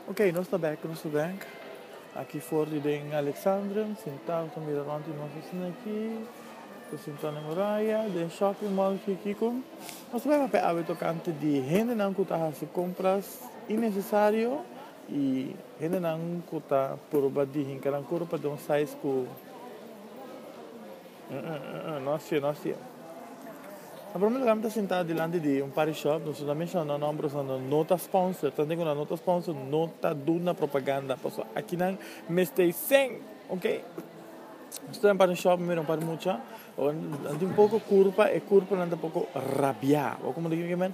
Ok, nos ta bek, nos ta bek. Aki for di den Alexandrium, sintao ta mira rond di nos asina aki. Ta sintao den muraya, den shopping mall aki, kiko. Nos ta bek papia awe tokante di hendenan ku ta hasi kompras innesesario i hendenan ku ta purba di hinka nan kurpa den un size ku. Nos tje, nos tje. Na prome lugar mi ta sintá dilanti di un party shop, nos no ta menshoná nòmber, nos no no ta sponsor, ta hende ku nan no ta sponsor no ta duna propaganda, paso aki nan mester sèn, oke. Nos ta den party shop mi mira un par di mucha, nan tin poko kurpa, e kurpanan ta poko rabiá, bo komo di kier ki men.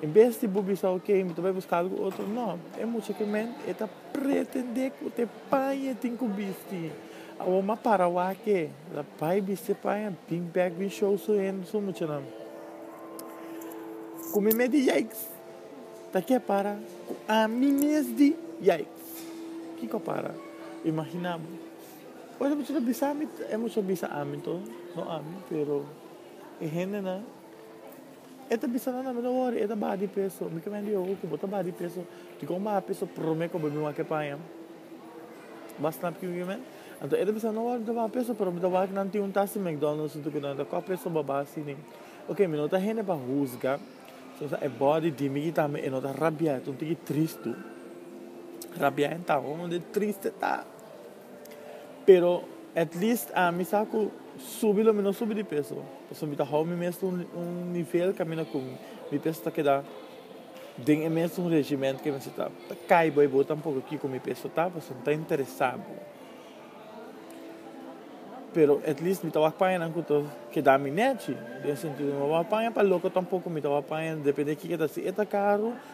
En bes di bo bisa, Oke, mi ta bai buska algu otro, no. E mucha ke ment e ta pretendé ku te paña e tin ku bisti. Awor mi a para wak-e, el a bai bisti e paña, bin bèk bin show su hende, su muchanan. Ku mi mes di yikes, ta ke a para ku ami mes di yikes? Kiko a para? Imaginá bo. Ora e mucha ta bisa mi, e mucha a bisa ami to, no ami, pero e hendenan. E ta bisa nan, Mi no wori, e ta baha di peso. Mi kmen di, Hoku bo ta baha di peso? Dikon bo baha peso prome ku bo bin wak e paña? Bo a snap kiko ki men? Anto e ta bisa nan, Mi no wori mi ta baha peso, pero mi ta wak nan tin un tasi McDonald's tudu ku nan e ta kòp peso bo baha asina. Oke, mi no ta hende pa husga, so sa e bòdi di mi ki ta mi, e no ta rabiaEta un tiki tristu. RabiaEntá, hounde triste ta! Pero at least ami sa cu subi lo mi no subi di peso, pasobra mi ta hou mi mes na un nivel caminda cu mi peso ta keda den e mesun regimen cu mi a seta. Ta cay bo y bo ta poco kico mi peso ta, pasobra mi ta interesa bo. Pero at least mi ta wak paya nan cu ta keda mi nechi, den e sentido, mi no wak paya pa loco tampoco, mi ta wak paya depende kico ta hasi e ta caro.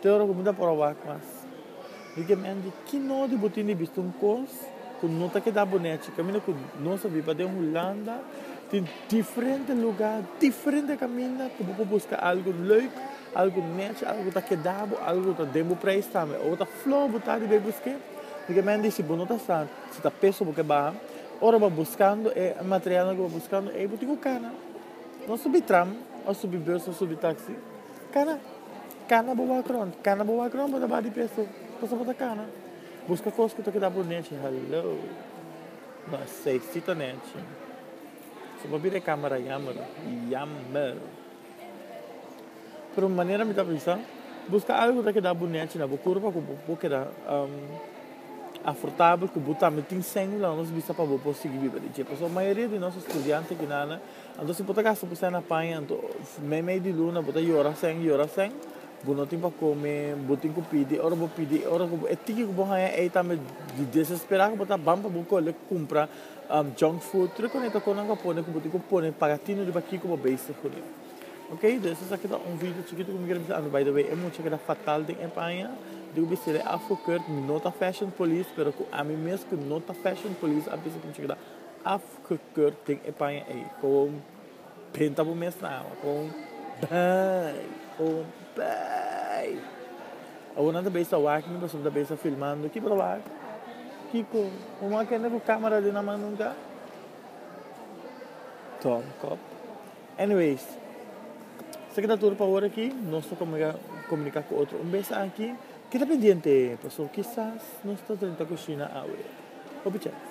Te ora ku mi ta proba mas di ke men di kino di bo tin di bisti un kos ku no ta keda bo nechi. Kaminda ku nos a biba den Hulanda tin diferente lugá, diferente kaminda ku bo por buska algu leuk, algu nechi, algu ku ta keda bo, algu ku ta den bo preis tambe. Ora ta flou bo ta di bai busk'é, di ke men di si bo no ta sa, si ta peso bo ke baha, ora bo a buskando e materialnan ku bo a buskando ei bo tin ku kana, no subi tram, o subi bus, o subi taksi. Cana, cana bo balcron, cana bo balcron bo ta ba di pia so, paso bo ta cana. Busca cos cu ta keda bo nechi, hallo. No aceiti ta nechi. So pa bira e camera jammer, jammer. Pero manera mi ta bisa, busca algo cu ta keda bo nechi na bo curpa cu bo por keda afortabel cu bo tambe tin sengula nos bisa pa bo por sigui biba di dje. Pasobra mayoria di nos estudiante aki nana. Anto si bo ta gasta bo sèn apaña anto mei mei di luna bo ta yora sèn yora sèn bo no tin pa kome bo tin ku pidi ora bo pidi e ora ku bo e tiki ku bo haña ei tambe di desesperá ku bo ta ban pa bo kole kumpra junk food tur e koneta kon nan ku a pone ku bo tin ku pone paga tinu riba kiko bo bai si hune ok dus esaki aki ta un video chikitu ku mi kere bisa anto by the way e mucha a keda fatal den e paña di ku bistié de afro kurt mi no ta fashion police pero ku ami mes ku no ta fashion police a bisa ku mi a keda afro. Kut tin e paña ey kon printa bo mes na awa kon bay kon bay awor nan ta bay sta wak mi pasobra nan ta bay sta filmando ki por wak kiko bo wak kende ku camera den nan man nunka dom kop anyways esaki ta tur pa awor aki nos ta komunika ku otro un bes aki keda pendiente pasobra kisas nos ta drenta ku Shina awe hopi chance.